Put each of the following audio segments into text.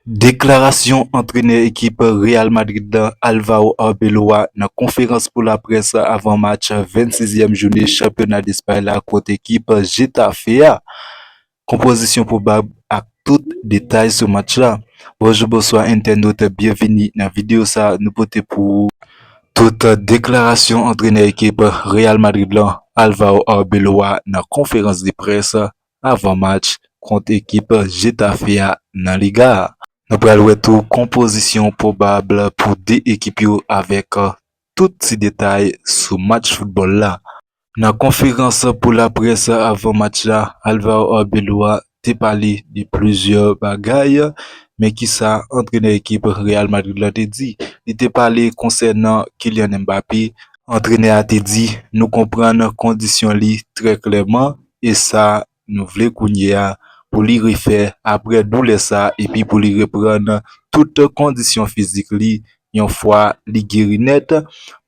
Deklarasyon antrenè ekip Real Madrid la Alvaro Arbeloa nan konferans pou laprès avan match 26 ème joune chanpyona Despay la kont ekip Getafe a, konpozisyon pwobab ak tout detay sou match la. Bonjou bonswa entènot byenvini nan videyo sa nou pote pou ou tout deklarasyon antrenè ekip Real Madrid la Alvaro Arbeloa nan konferans de près avan match kont ekip Getafe a nan Liga a. Nou pral wè tou konpozisyon pwobab pou 2 ekip yo avèk tout ti detay sou match foutbòl la. Nan konferans pou laprès avan match la, Alvaro Arbeloa te pale de plizyè bagay, men kisa antrenè ekip Real Madrid la te di? Li te pale konsènan Kylian Mbappé, antrenè a te di nou konprann kondisyon li trè klèman E sa nou vle kounye a pou li refè apre doulè sa epi pou li reprann tout kondisyon fizik li yon fwa li geri nèt.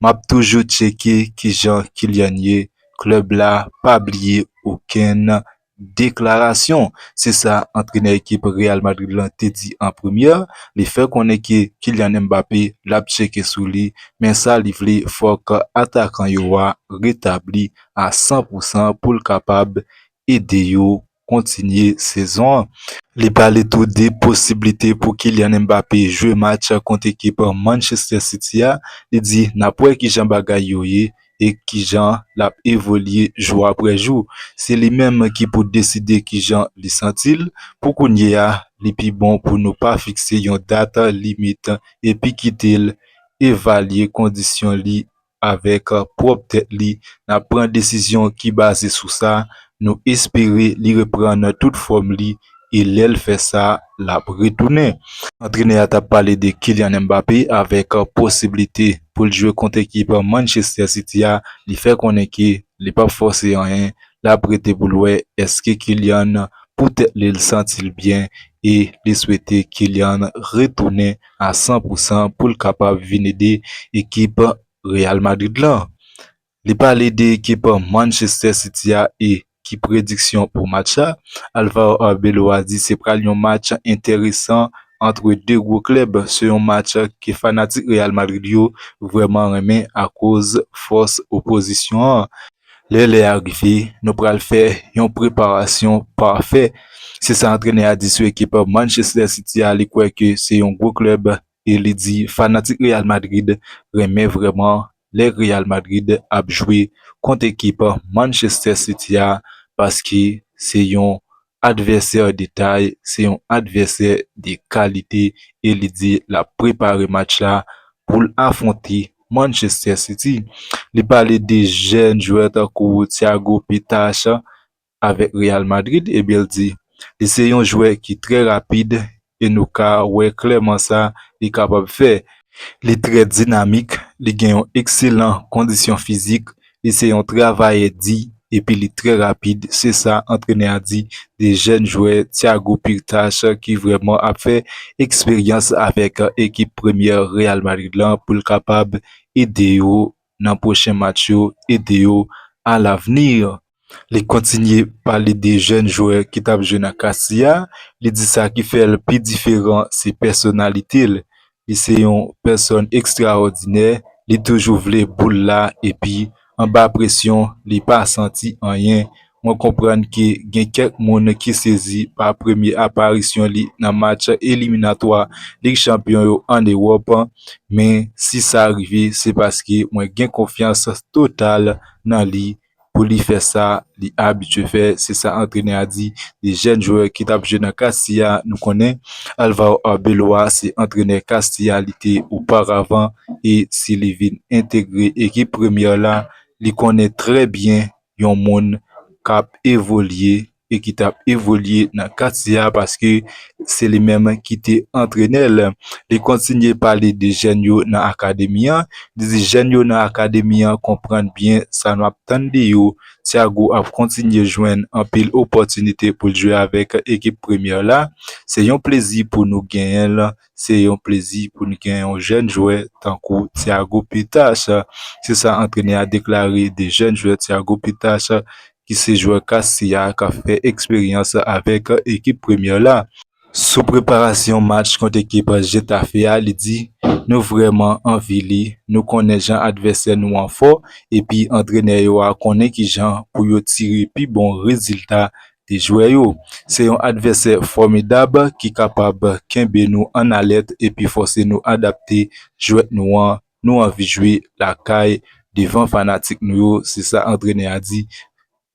Map toujou tcheke kijan Kylian ye, klèb la pa bliye okenn deklarasyon. Se sa antrenè ekip Real Madrid lan te di an premyè. Li fè konnen ke Kylian Mbappé lap tcheke sou li men sa li vle fòk atakan yo a retabli a 100 pou 100 pou l kapab ede yo kontinye sezon an. Li pale tou de posiblite pou Kylian Mbappé jwe match kont ekip Manchester City a, li di n ap wè kijan bagay yo ye e kijan l ap evolye jou aprè jou. Se li menm ki pou deside kijan li santi l, pou kounye a li pi bon pou nou pa fikse yon dat limit epi kite l evalye kondisyon li avèk pwòp tèt li n ap pran desizyon ki baze sou sa, nou espere li reprann tout fòm li e lè l fè sa l ap retounen. Antrenè a t ap pale de Kylian Mbappé avèk posiblite pou l jwe kont ekip Manchester City a, li fè konnen ke li p ap fòse anyen, l ap rete pou l wè eske Kylian pou tèt li l santi l byen e li swete Kylian retounen. a 100 pou 100 pou l kapab vin ede ekip Real Madrid lan. Li pale de ekip Manchester City a e ki prediksyon pou match la, Alvaro Arbeloa di se pral yon match enteresan antre 2 gwo klèb, se yon match ke fanatik Real Madrid yo vrèman renmen akoz fòs opozisyon an. Lè lè a rive, nou pral fè yon preparasyon pafè, se sa antrenè a di sou ekip Manchester City a, li kwè ke se yon gwo klèb e li di fanatik Real Madrid renmen vrèman lè Real Madrid ap jwe kont ekip Manchester City a paske se yon Advèsè de tay se yon advèsè de kalite e li di l ap prepare match la pou l afwonte Manchester City. Li pale de jèn jwè tankou Thiago Pitache avèk Real Madrid ebyen l di li se yon jwè ki trè rapid e nou ka wè klèman sa li kapab fè. Li trè dinamik, li gen yon ekselan kondisyon fizik, li se yon travayè di epi li trè rapid, se sa antrenè a di de jèn jwè Thiago Pirtach ki vrèman ap fè eksperyans avèk ekip premyè Real Madrid la pou l kapab ede yo nan pwochen match yo ede yo a l'avenir. Li kontinye pale de jèn jwè ki tap jwe nan Castilla, li di sa ki fè l pi diferan se pèsonalite l, li se yon pèsòn ekstraòdinè, li toujou vle boul la epi anba presyon li pa santi anyen Mwen konprann ke gen kèk moun ki sezi pa premye aparisyon li nan match eliminatwa Lig Chanpyon yo an Ewòp, men si sa rive se paske mwen gen konfyans total nan li pou li fè sa li abitye fè, se sa antrenè a di de jèn jwè ki tap jwe nan Castilla. Nou konnen Alvaro Arbeloa se antrenè Castilla li te oparavan e si li vin entegre ekip Premier la li konnen trè byen yon moun k ap evolye e ki t ap evolye nan katye a paske se li menm ki te antrenè l. Li kontinye pale de jèn yo nan akademi an, li di jèn yo nan akademi an konprann byen sa nou ap tann de yo, Thiago ap kontinye jwenn anpil opòtinite pou l jwe avèk ekip premyè la, se yon plezi pou nou genyen l, Se yon plezi pou n gen yon jèn jwè tankou Thiago Pitas, se sa antrenè a deklare de jèn jwè Thiago Pitas ki se jwè Castilla k ap fè eksperyans avèk ekip Premier la. Sou preparasyon match kont ekip Getafe a li di, Nou vrèman anvi li, nou konnen jan advèsè nou an fò epi antrenè yo a konnen kijan pou yo tire pi bon rezilta Di jwè yo, Se yon advèsè fòmidab ki kapab kenbe nou an alèt epi fòse nou adapte jwèt nou an, nou anvi jwe lakay devan fanatik nou yo, se sa antrenè a di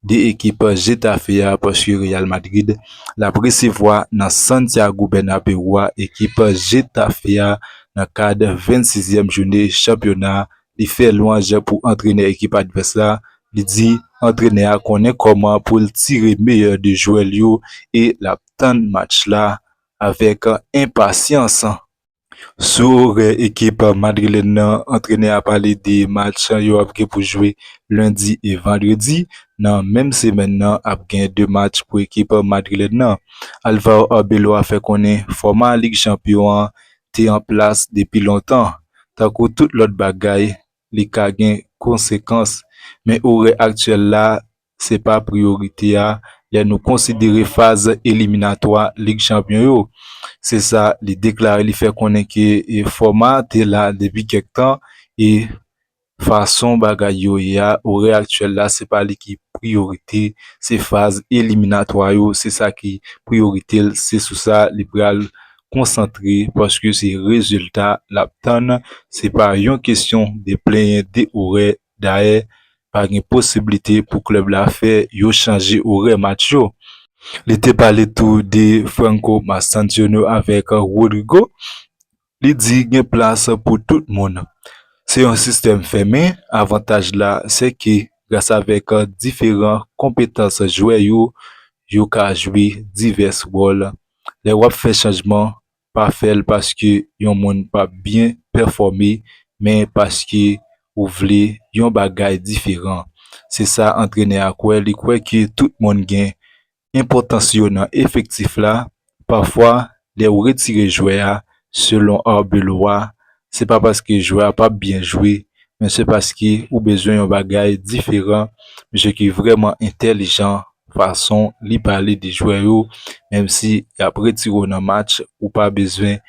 de ekip Getafe a paske Real Madrid l ap resevwa nan Santiago Bernabeu a ekip Getafe a nan kad 26 zyèm joune chanpyona Li fè lwanj pou antrenè ekip advès la, li di antrenè a konnen kòman pou l tire meyè de jwè l yo e l ap tann match la avèk enpasyans. Sou orè ekip madrilèn nan, antrenè a pale de match yo ap gen pou jwe lendi e vandredi nan menm semèn nan, ap gen 2 match pou ekip madrilèn nan. Alvaro Arbeloa fè konnen fòma Lig Chanpyon an te an plas depi lontan, tankou tout lòt bagay li ka gen konsekans, men orè aktyèl la se pa priyorite a lè nou konsidere faz eliminatwa Lig Chanpyon yo, se sa li deklare li fè konnen ke fòma a te la depi kèk tan e Fason bagay yo ye a orè aktyèl la se pa li ki priyorite se faz eliminatwa yo se sa ki priyorite l se sou sa li pral konsantre paske se rezilta l ap tann se pa yon kesyon de plenyen de orè dayè pa gen posiblite pou klèb la fè yo chanje orè match yo. Li te pale tou de Franco Mastantuono avèk Rodrygo Li di gen plas pou tout moun. Se yon sistèm fèmen, avantaj la se ke gras avèk diferan konpetans jwè yo, yo ka jwe divès wòl. Lè w ap fè chanjman, pa fè l paske yon moun pa p byen pèfòme men paske ou vle yon bagay diferan. Se sa antrenè a kwè, li kwè ke tout moun gen enpòtans yo nan efektif la, pafwa lè ou retire jwè a selon Arbeloa se pa paske jwè a pap byen jwe men se paske ou bezwen yon bagay diferan, misye ki vrèman entèlijan fason li pale de jwè yo menm si yap retire w nan match ou pa bezwen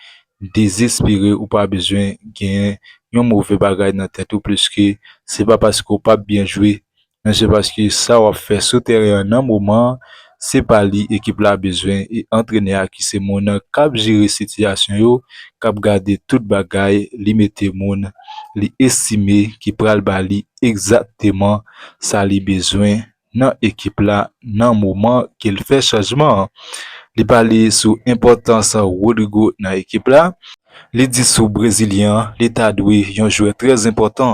dezespere ou pa bezwen gen yon move bagay nan tèt ou pliske se pa paske w pap byen jwe men se paske sa w ap fè sou tèren an nan moman an, se pa li ekip la bezwen e antrenè a ki se moun k ap jere sitiyasyon yo, k ap gade tout bagay, li mete moun li estime ki pral ba li egzakteman sa li bezwen nan ekip la nan moman ke l fè chanjman an. Li pale sou enpòtans Rodrygo nan ekip la. Li di sou brezilyen an li ta dwe yon jwè trè enpòtan,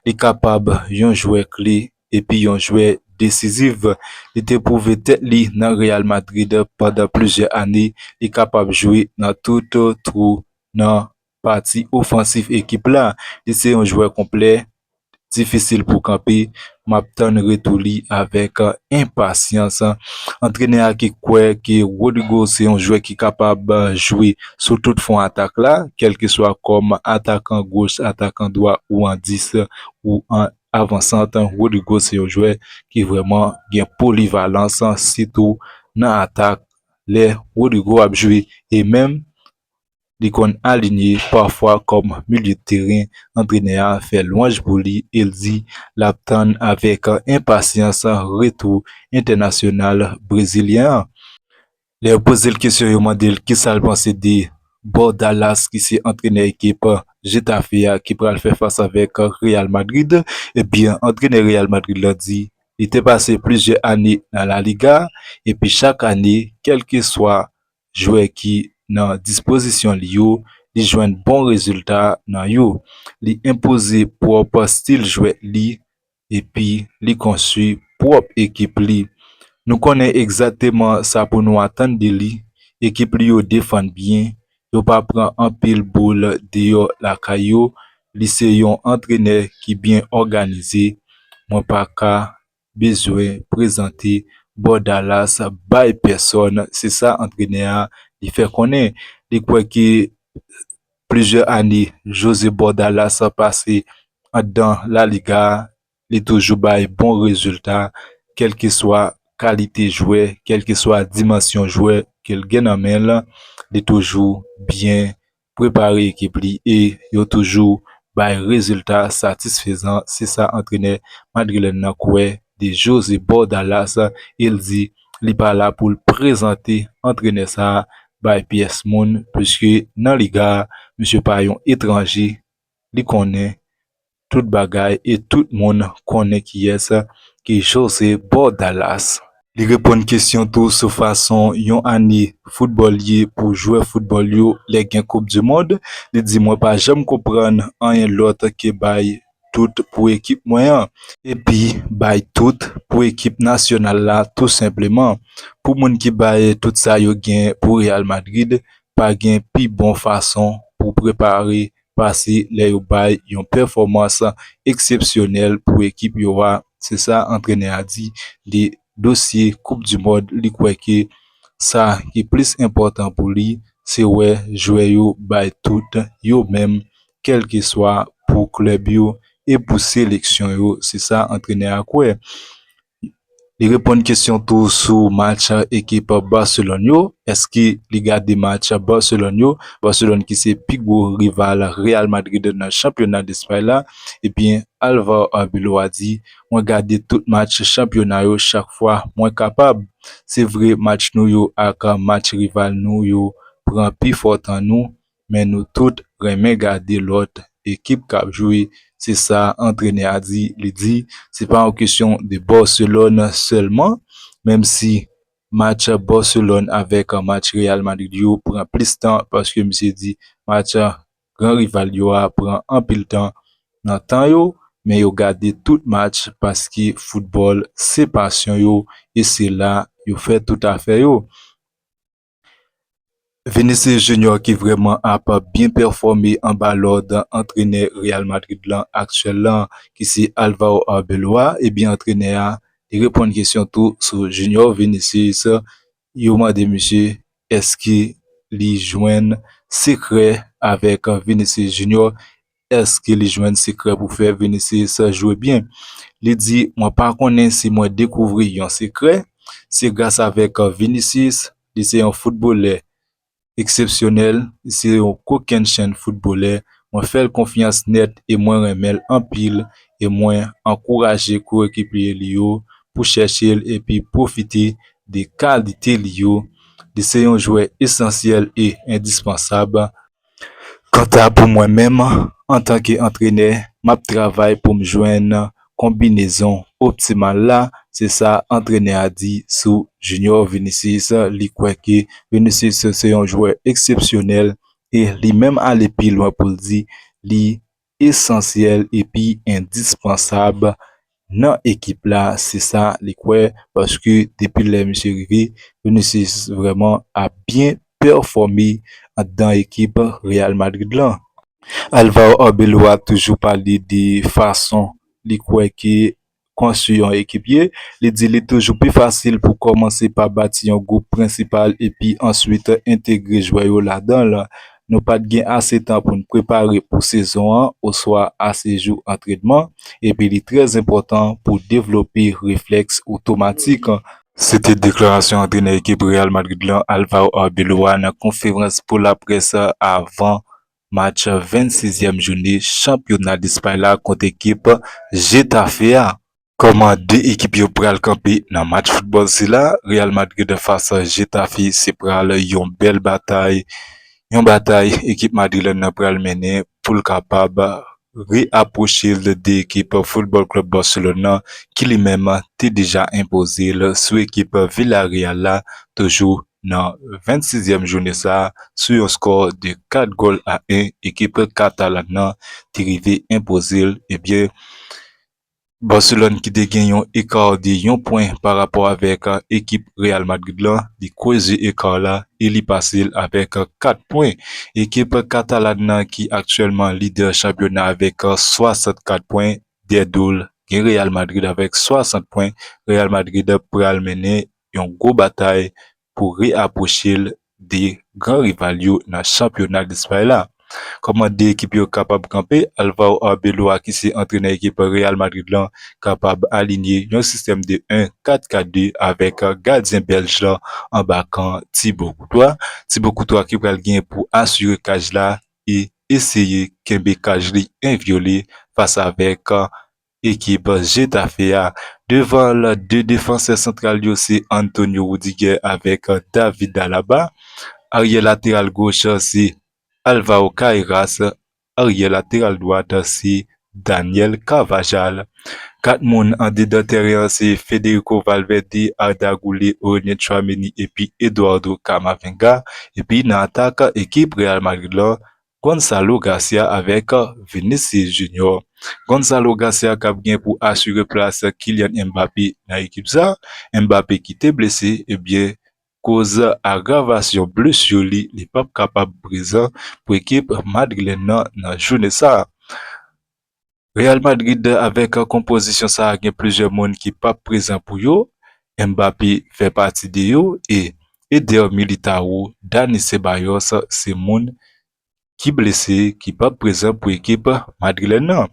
li kapab yon jwè kle epi yon jwè desizif. Li te pwouve tèt li nan Real Madrid pandan plizyè ane, li kapab jwe nan tout twou nan pati ofansif ekip la. Li se yon jwè konplè, difisil pou kanpe, m ap tann retou li avèk enpasyans. Antrenè a ki kwè ke Rodrygo se yon jwè ki kapab jwe sou tout fwon atak la, kèlkeswa kòm atakan goch, atakan dwa ou an 10 ou an avansant, Rodrygo se yon jwè ki vrèman gen polivalans sitou nan atak lè Rodrygo ap jwe e menm li konn alinye pafwa kòm milye teren, antrenè a fè lwanj pou li e l di l ap tann avèk enpasyans retou entènasyonal brezilyen an. Lè yo poze l kesyon yo mande l kisa l panse de Bordalas ki se antrenè ekip Getafe a ki pral fè fas avèk Real Madrid, ebyen antrenè Real Madrid la di li te pase plizyè ane nan La Liga epi chak ane kèlkeswa jwè ki nan dispozisyon li yo, li jwenn bon rezilta nan yo. Li enpoze pwòp stil jwèt li epi li konstwi pwòp ekip li. Nou konnen egzakteman sa pou nou atann de li, ekip li yo defann byen, yo pa pran anpil boul deyò lakay yo, li se yon antrenè ki byen òganize, mwen pa ka bezwen prezante Bordalas bay pèsòn, se sa antrenè a li fè konnen. Li kwè ke plizyè ane Jose Bordalas pase anndan La Liga a, li toujou bay bon rezilta kèlkeswa kalite jwè, kèlkeswa dimansyon jwè ke l gen nan men l, li toujou byen prepare ekip li e yo toujou bay rezilta satisfezan, se sa antrenè madrilèn nan kwè de Jose Bordalas e l di li pa la pou l prezante antrenè sa bay pyès moun puiske nan Liga a misye pa yon etranje li konnen tout bagay e tout moun konnen kiyès ki José Bordalas. Li reponn kesyon tou sou fason yon ane foutbòl ye pou jwè foutbòl yo lè gen koup di mond, li di mwen pa janm konprann anyen lòt ke bay tout pou ekip mwen an, epi bay tout pou ekip nasyonal la tou senpleman, pou moun ki bay tout sa yo gen pou Real Madrid Pa gen pi bon fason pou w prepare pase lè yo bay yon pèfòmans eksepsyonèl pou ekip yo a, se sa antrenè a di de dosye koup du mond li kwè ke sa ki plis enpòtan pou li se wè jwè yo bay tout yo menm kèlkeswa pou klèb yo e pou seleksyon yo, se sa antrenè a kwè. Li reponn kesyon tou sou match ekip Barcelone yo, eske li gade match Barcelone yo, Barcelone ki se pi gwo rival Real Madrid nan chanpyona Despay la, ebyen Alvaro Arbeloa di, mwen gade tout match chanpyona yo chak fwa mwen kapab. Se vre match nou yo ak match rival nou yo pran pi fò tan nou, Men nou tout renmen gade lòt ekip kap jwe se sa antrenè a di, li di se pa yon kesyon de Barcelone sèlman menm si match Barcelone avèk match Real Madrid yo pran plis tan paske misye di match gran rival yo a pran anpil tan nan tan yo men yo gade tout match paske foutbòl se pasyon yo e se la yo fè tout afè yo. Vinicius Junior ki vrèman ap byen pèfòme anba lòd antrenè Real Madrid lan aktyèl lan ki se Alvaro Arbeloa, ebyen antrenè a li reponn kesyon tou sou Junior Vinicius, yo mande misye èske li jwenn sekrè avèk Vinicius Junior Èske li jwenn sekrè pou fè Vinícius jwe byen? Li di, Mwen pa konnen si mwen dekouvri yon sekrè, se gras avèk Vinícius, li se yon foutbolè eksepsyonèl, li se yon kokennchenn foutbolè, mwen fè l konfyans nèt e mwen renmen l anpil e mwen ankouraje koyekipye li yo pou chèche l epi pwofite de kalite li yo. Li se yon jwè esansyèl e endispansab. Kanta pou mwen menm, antanke antrenè, m ap travay pou m jwenn konbinezon optimal la, se sa antrenè a di sou Junior Vinicius. Li kwè ke Vinicius se yon jwè eksepsyonèl e li menm ale pi lwen pou l di li esansyèl epi endispansab nan ekip la se sa li kwè paske depi lè misye rive Vinicius vrèman ap byen pèfòme anndan ekip Real Madrid lan. Alvaro Arbeloa toujou pale de fason li kwè ke Konstwi yon ekip ye, li di li toujou pi fasil pou kòmanse pa bati yon gwoup prensipal epi answit entegre jwè yo ladan l. Nou pa t gen ase tan pou n prepare pou sezon an oswa ase jou antrenman, epi li trè enpòtan pou devlope reflèks otomatik. Se te deklarasyon antrenè ekip Real Madrid lan, Alvaro Arbeloa nan konferans pou laprès avan Match 26 yèm joune chanpyona Lespay la kont ekip Getafe a. Kòman 2 ekip yo pral kanpe nan match foutbòl sila, Real Madrid fas Getafe se pral yon bèl batay, yon batay ekip madrilèn nan pral mennen pou l kapab re-apwoche l de ekip Football Club Barcelone nan ki li menm te deja enpoze l sou ekip Villarreal la toujou Nan 26 zyèm joune sa a, sou yon skò de 4 gòl a 1, ekip Katalan nan te rive enpoze l, ebyen Barcelone ki te gen yon eka de yon pwen pa rapò avèk ekip Real Madrid la, li kreze eka la e li pase l avèk 4 pwen. Ekip Katalan nan ki aktyèlman lidè chanpyona avèk 64 pwen, dèyè do l gen Real Madrid avèk 60 pwen, Real Madrid pral mennen yon gwo batay pou re-apwoche l 2 gran rival yo nan chanpyona Lespay la. Kòman 2 ekip yo kapab kanpe? Alvaro Arbeloa ki se antrenè ekip Real Madrid lan kapab alinye yon sistèm de 1 4 4 2 avèk gadyen Bèlj lan anba kan Thibaut Courtois. Thibaut Courtois ki pral gen pou asire kaj la e eseye kenbe kaj li envyole fas avèk ekip Getafe a. Devan l, 2 defansè santral yo se Antonio Rudiger avèk David Alaba. Aryè lateral goch se Alvaro Carreras. Aryè lateral dwat se Daniel Carvajal. 4 moun andedan tèren an se Federico Valverde, Arda Güler, Aurelien Tchouaméni epi Eduardo Camavinga. Epi nan atak ekip Real Madrid lan, Gonzalo Garcia avèk Vinicius Junior. Gonzalo Garcia kap gen pou asire plas Kylian Mbappé nan ekip sa, Mbappé ki te blese ebyen koz agravasyon blesur li, li pap kapab prezan pou ekip madrilèn nan nan joune sa. Real Madrid avèk konpozisyon sa gen plizyè moun ki pap prezan pou yo, Mbappé fè pati de yo e Eder Militao, Dani Ceballos se moun ki blese ki pap prezan pou ekip madrilèn nan.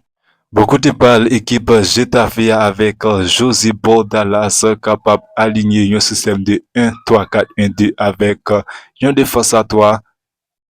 Bò kote pa l ekip Getafe a avèk José Bordalas kapab alinye yon sistèm de 1 3 4 1 2 avèk yon defans a 3,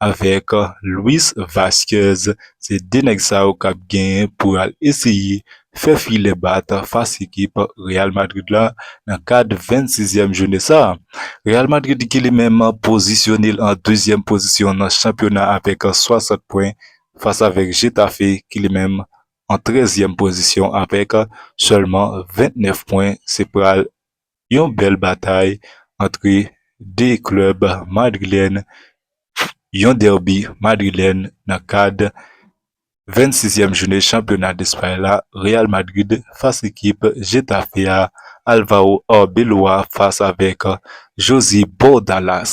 avèk Luis Vazquez se 2 nèg sa yo kap genyen pou al eseye fè filè bat fas ekip Real Madrid la nan kad 26 zièm joune sa. Real Madrid ki li menm pozisyonel an 2 zièm pozisyon nan chanpyona avèk 60 pwen fas avèk Getafe ki li menm an 13 zièm pozisyon avèk sèlman 29 pwen se pral yon bèl batay antre 2 klèb madrilèn, yon derby madrilèn nan kad 26 èm joune chanpyona Despay la, Real Madrid fas ekip Getafe a, Alvaro Arbeloa fas avèk Josy Bordalas.